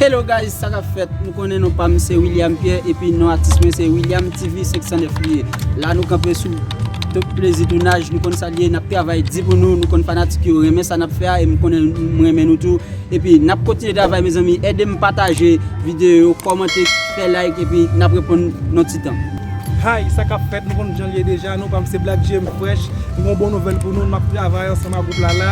Hello guys sa kap fèt nou konnen non pam se William Pierre epi non atis mwen se William TV 509 li ye la nou kanpe sou top plezi tounaj nou konn sa li ye nap travay di pou nou nou konn fanatik yo renmen sa nap fè a e m konnen m renmen nou tou epi nap kontinye travay mezanmi edem pataje videyo yo kòmante fè like epi nap reponn nan ti tan. Hi, sa kap fèt, nou konn janl ye deja, non pam se Black GM fresh, m gen yon bon nouvèl pou nou, map travay ansanm ak gwoup la la,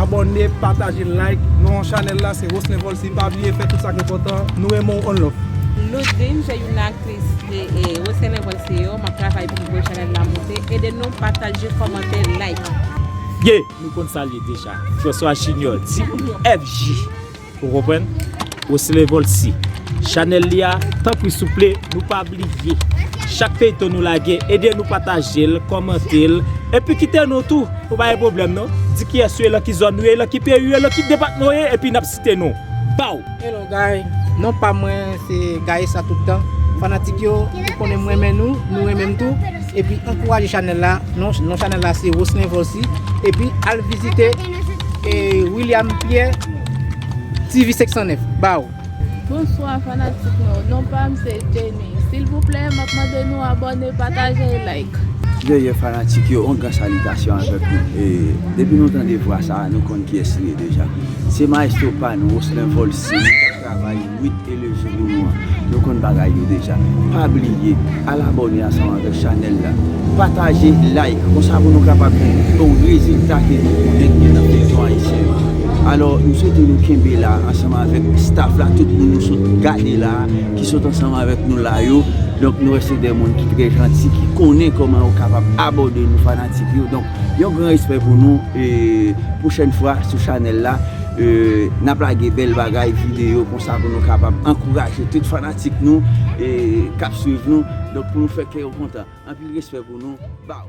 abòne, pataje, like, non an chanèl la se Roslen Volcy, pa bliye fè tout sak enpòtan, nou renmen w on love. Loudine se youn nan aktris Roselen Volcy yo, map travay pou m voye chanèl la moute, ede nou pataje, kòmante, like. Ye, nou konn sal ye deja, François Junior, DFJ. Ou konprann? Rosselin Volcy Chanel li a tanpri souple nou pa bliye chak feyton nou lage ede nou patajel kòmantel epi kite non tou pou pa gen pwoblèm non di kiyès ou ye lan ki zòn ou ye lan ki peyi ou ye lan ki depatman ou ye epi nap site non baw. Hello guys non pam mwen se Gaëssa tout tan fanatik yo ou konnen m renmen nou nou renmen m tou epi ankouraje chanel la non chanel la se Rosselin Volcy epi al vizite. William Pierre TV 509 ba ou. Bonswa fanatik nou, non pam se Jenny, silvouplè map mande nou abòne, pataje e like. Veye fanatik yo, yon gran salitasyon avèk nou. Depi nou tande vwa sa a, nou konn kiyès li ye deja. Se maestro pa nou, Rocelin Volcy. Travay Wid e Lejou pou nou an. Nou konn bagay yo deja. Pa bliye al abòne ansanm avèk chanèl la. Pataje, like, konsa pou nou kapab gen pi bon rezilta ke nou konnen gen nan feyton ayisyen yo. Alò, m swete nou kenbe la ansanm avèk staff la, tout moun nou sot gade la, ki sot ansanm avèk nou la yo. Donk nou wè se de moun ki trè janti, ki konnen kòman yo kapab abòde nou fanatik yo. Donk yon gran respè pou nou e pwochèn fwa sou chanèl la. Nap lage bèl bagay videyo konsa pou nou kapab ankouraje tout fanatik nou kap swiv nou donk pou nou fè kè yo kontan anpil respè pou nou baww.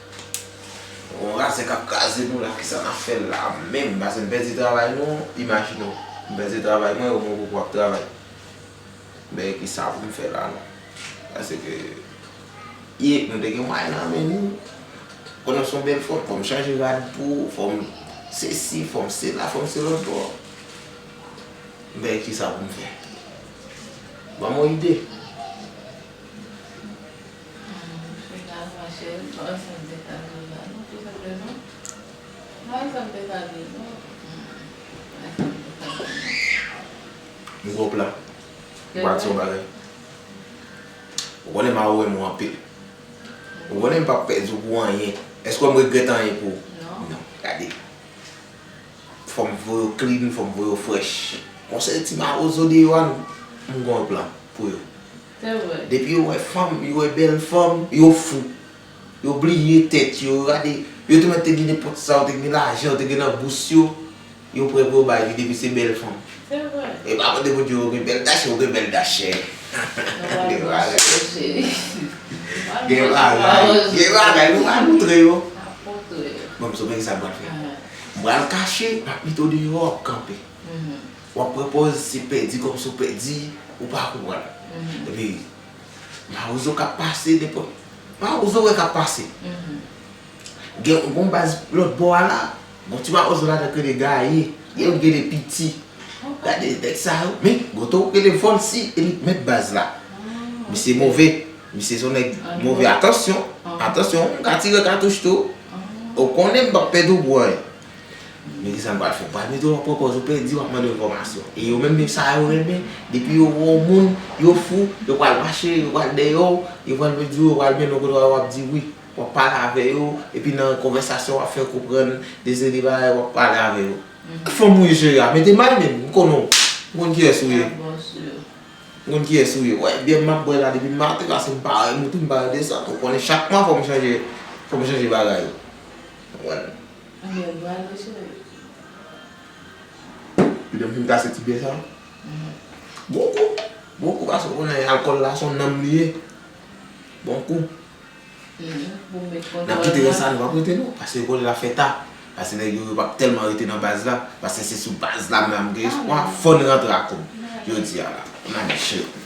Bon razè kap kraze nou la kisa nap fè la menm pase m pèdi travay nou imajine w m pèdi travay mwen ou menm ou pap travay men kisa pou m fè la non pase ke e nou te gen mwayen nan men nou kon nou son bèl fanm fòm chanje rad pou ou fòm se si fòm se la fòm se lòt bò men kisa pou m fè ban mwen ide. Micro plat. Ou pa di yon bagay. Ou konnen ma ou renmen ou anpil. Ou konnen m pap pèdi w pou anyen. Èske wè m regrèt anyen pou ou? Non. Gade. Fò m voye w klin, fò m voye w frèch. Konsèy ti mawozo deyò a, m gen yon plan pou yo. Se vre. Depi yo wè fanm, yo wè bèl fanm, yo fou. Yo bliye tèt yo, yo gade, yo te mèt te gen nenpòt sa, yo te gen lajan, yo te gen nan bous yo, yo prè pou yo bay li depi se bèl fanm. Se vre. E pa mande Bondye ou gen bèl dachè, ou gen bèl dachè. Nou pa gen bagay non cheri. Gen bagay, gen bagay, nou pa moutre yo. N ap moutre yo. Bon, m sou gen sa m pral fè. M pral kache, m ap met ou deyò, w ap kanpe. Wap pran pòz se pèdi kòmsi w pèdi ou pa konprann epi mawozo kap pase nenpòt mawozo wè kap pase gen yon baz lòt bò a la gon ti mawozo ladan ki rele gaye gen yon ki rele piti gade nèg sa yo men gen yon tou ki rele vòlsi e li t mèt baz la misye move misye son nèg move atansyon atansyon m ka tire katouch tou ou konnen m pap pèdi w bwè. Men kisa m pral fè, m pral mete w an pwopòz, ou pèdi w ap mande enfòmasyon. E yo menm menm sa yo renmen, depi yo wè w moun, yo fou, yo pral mache, yo pral dèyè w, yo pral vin di w, yo pral mennen w kote w al w ap di wi. W ap pale avè yo, epi nan konvèsasyon w ap fè konprann de seri bagay w ap pale avè yo. Ki fanm ou ye cheri a? Mete may menm, m konnen w, m konn kiyès ou ye. Mwen bon sou yo. M konn kiyès ou ye. Wè byè m ap bwè la depi m maten, paske m pa renmen tou, m pa renmen desann. Ou konnen chak mwa fò m chanje, fò m chanje bagay. Ou konprann? Ou gen bra dwe sere. Li menm fin kase ti bè sa. Bon kou. Bon kou paske ou konnen alkòl la son nanm li ye. Bon kou. Nap kite rès la nou pap rete non. Paske kounye la fè ta. Paske nèg yo yo pap tèlman rete nan baz la. Paske se sou baz la menm la m gen espwa. Fòn rantre a kob. Jodi a la. Nan men cheri.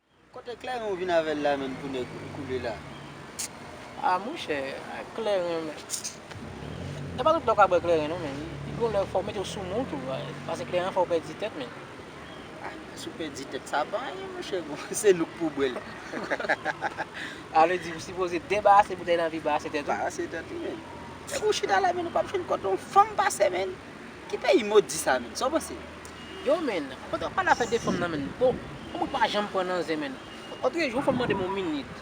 Kote klèren ou vin avèl la menm pou nèg koule la. Ah monchè klèren men e pa tout lè ou ka bwè klèren non men li gon lè fòw metew sou moun tou pase klèren an fèw pèdi tèt men. Ah si ou pèdi tèt sa pa anyen monchè bon se nou k pou bwèl. Ah vle di ou sipoze debarase boutèy lan epi barase tèt ou. Barase tèt ou menn. Depi ou chita la menn ou pap jwenn kote yon fanm pase menn. Ki peyi modi sa menn sa ou panse. Yo menn, kote wap pale afè de fanm nan menn, bon, fanm ou pa janm pran nan zen menn, otre jou yon fanm mandem yon minit,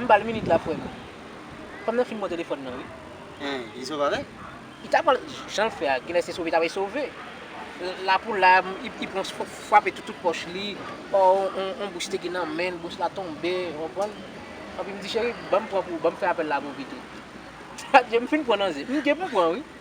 m bal minit la frèm, fanm nan fin pran telefòn nan wi. Hein, li sove avèl? Li ta pranl, janl fè a, genlè se sove li ta vle sove, la pou la, li pran frape tout tout pòch li, or yon bous te gen nan menl, bous la tonbe, ou konprann, epi m di cheri banm pran pou ou, banm fè apèl la pou ou pito, adye m fin pran nan zen, m gen pou m pran wi.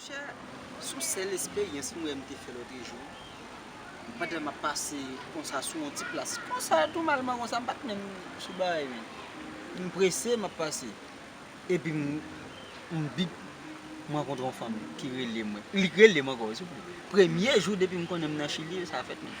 Monchè, son sèl esperyans m wè m te fè lote jou, pandan map pase konsa sou yon ti plas konsa tou malman konsa m pat menm sou bagay men m prese map pase epi m bip m rankontre yon fanm ki rele mwen li k rele m ankò souple premye jou depi m konnen m nan chili sa fèt menm.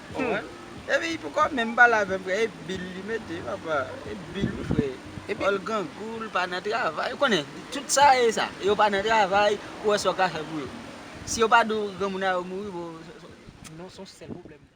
Humm epi pou kòb menm pale avèm frè e bil li mete papa e bil wi frè epi l grangou l pa nan travay ou konnen tout sa e sa yo pa nan travay ou wè sa w ka fè pou yo si yo pa di w granmoun nan yo mouri bon non son sèl pwoblèm mwen.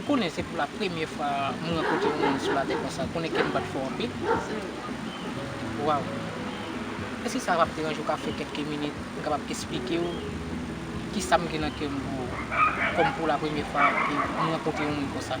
Ou konnen se pou la premye fwa m rankontre yon moun sou latè konsa, ou konnen kè m bat fò anpil. Waw! Èske sa pap deranje w ka fè kèlke minit pou m kapab esplike w kisa m gen nan kè m pou ou, kòm pou la premye fwa m rankontre yon moun konsa?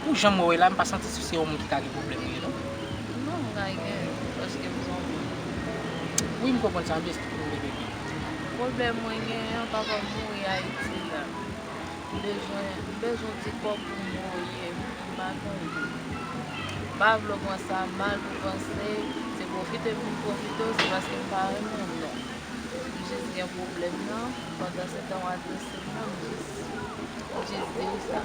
Pou janm wè w ye la m pa santi se yon moun ki ka gen pwoblèm ou ye non. Non m ka gen paske m son moun. Wi m konprann sa besti pou nou de bebe. Pwoblèm mwen gen an papa m mouri ayiti la m bezwen m bezwen w ti kòb pou m voye m pa gen w tou. M pa vle w pran sa mal pou w panse se pwofite m vin pwofite w se paske m pa renmen w non. M jis gen pwoblèm nan pandansetan w adrese m nan m jis di w sa.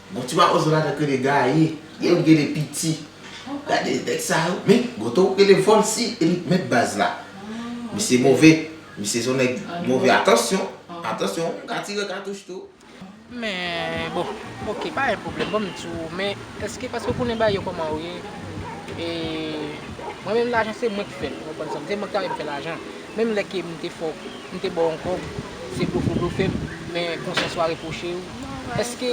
Bon ti mawozo la nèg rele Gaye e li rele piti gade nèg sa yo men goto rele volcy e li t mèt baz la misye move misye son nèg move atansyon atansyon m ka tire katouch tou. Men bon ok pa gen pwoblèm banm di w men eske paske w konnen bagay yo kòman yo ye e mwen menm lajan se mwen k fè l ou konprann sa m di se mwen k ta rèn fè lajan Menm lè ke m te fè w, m te ba w yon kòb, se blofe w blofe m, men konsyans ou a repwoche w. Èske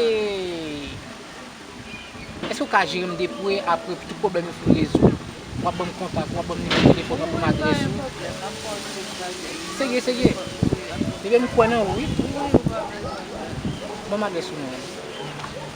Èske ou ka jere m depre apre tout pwoblèm yo fin rezoud, w ap ban m kontak ou, w ap ban m nimewo telefòn ou, w ap ban m adrès ou? Serye, serye? Ebyen m kwè nan ou wi. Ban m adrès ou mwen.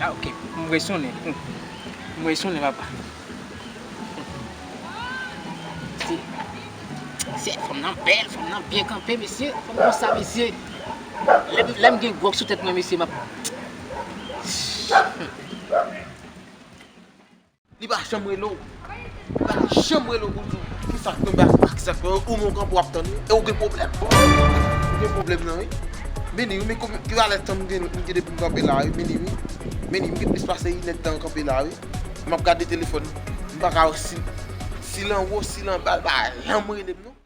Ah ok, m vre sonnen tou. M vre sonnen papa. Mesye, mesye, fanm nan bèl, fanm nan byen kanpe mesye, fanm nan sa mesye. Lè m gen gwòg sou tèt mwen mesye m ap. Li pa janm rele w. Li pa janm rele w pou l di w kisa k tonbe ak akzant mwen yo. Ou menm w kanpe w ap tann li. E w gen pwoblèm. Ou gen pwoblèm nan wi. Meni wi, men ki valè tan m gen depi m kanpe la wi. Meni wi. Meni m gen plis pase inèdtan m kanpe la wi. M ap gade telefòn m. M pa ka wè si l anwo, si l anba. Li pa janm rele m non.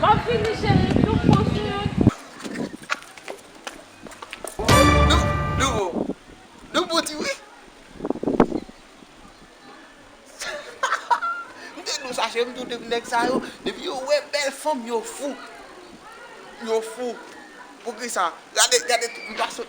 Map vini cheri tout bon swiv. Nou bon di wi. M te dou sa cheri m tou depi nèg sa yo depi yo wè bèl fanm yo fou. Yo fou. Poukisa gade gade m pa sot.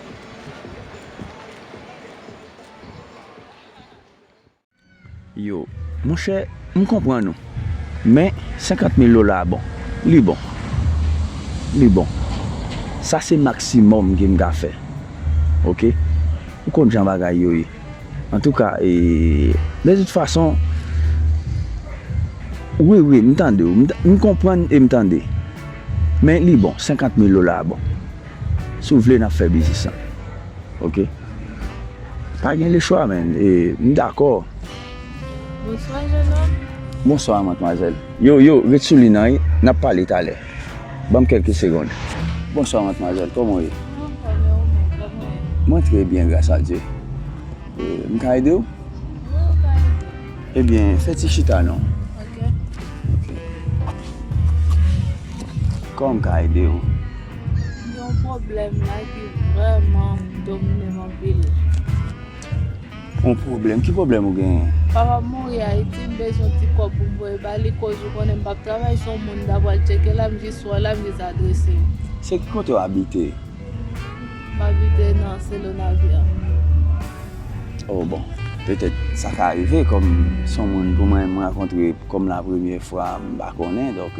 Yo, monchè, m konprann ou. Men, senkant mil dola a bon. Li bon. Li bon. Sa se maksimòm ke m ka fè. Oke. Ou konn jan bagay yo ye. Antouka, e, de tout fason, wi, wi, m tande ou. M konprann e m tande. Men, li bon. Senkant mil dola a bon. Si w vle n ap fè biznis lan ok. Pa gen lechwa men e m dakò. Bonswa jènòm. Bonswa matmwazèl. Yo, yo, ret sou lin an e n ap pale talè. Ban m kèlke segond. Bonswa matmwazèl, kòman w ye? Mwen an fòm e ou menm, kòman w ye? Mwen trè byen gras a Dye. E m ka ede w? Wi ou ka ede m. Ebyen fè ti chita non. Ok. Ok. Kòman m ka ede w? Yon pwoblèm la ki vrèman domine m anpil. Yon pwoblèm? Ki pwoblèm ou genyen? Papa m mouri Ayiti, m bezwen ti kòb pou m voye ba li koz ou konnen m pap travay si yon moun ta pral tcheke la m jis wè la m jis adrese l. Se ki kote w abite? M abite nan Se Le Navire. Oh bon. Petèt sa ka rive kòm se yon moun pou mwen m rankontre kòm la premye fwa m pa konnen donk.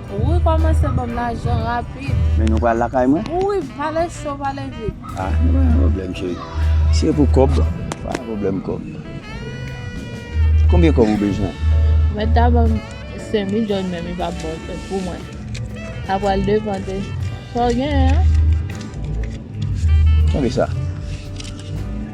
Wi komanse banm lajan rapid. Men nou pral lakay mwen? Wi pale cho pale vit. Ah nou pa gen problem cheri. Si e pou kob pa gen problem kob. Konbyen kob ou bezwen? Mwen ta banm 5000 doll men li pap bon fèt pou mwen. Sa pral depan de sa w genyen an. Tande sa.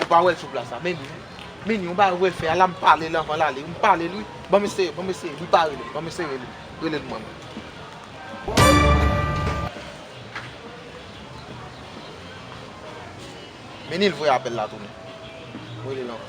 Ou pa wèl sou plas la menn ui. Menn yon bagay wèl fè a la m palel anvan lale wi m palel wi banm eseye banm eseye li pa rele banm eseye rele rele l mwen. Menil voye apèl la tounen m relel ankò.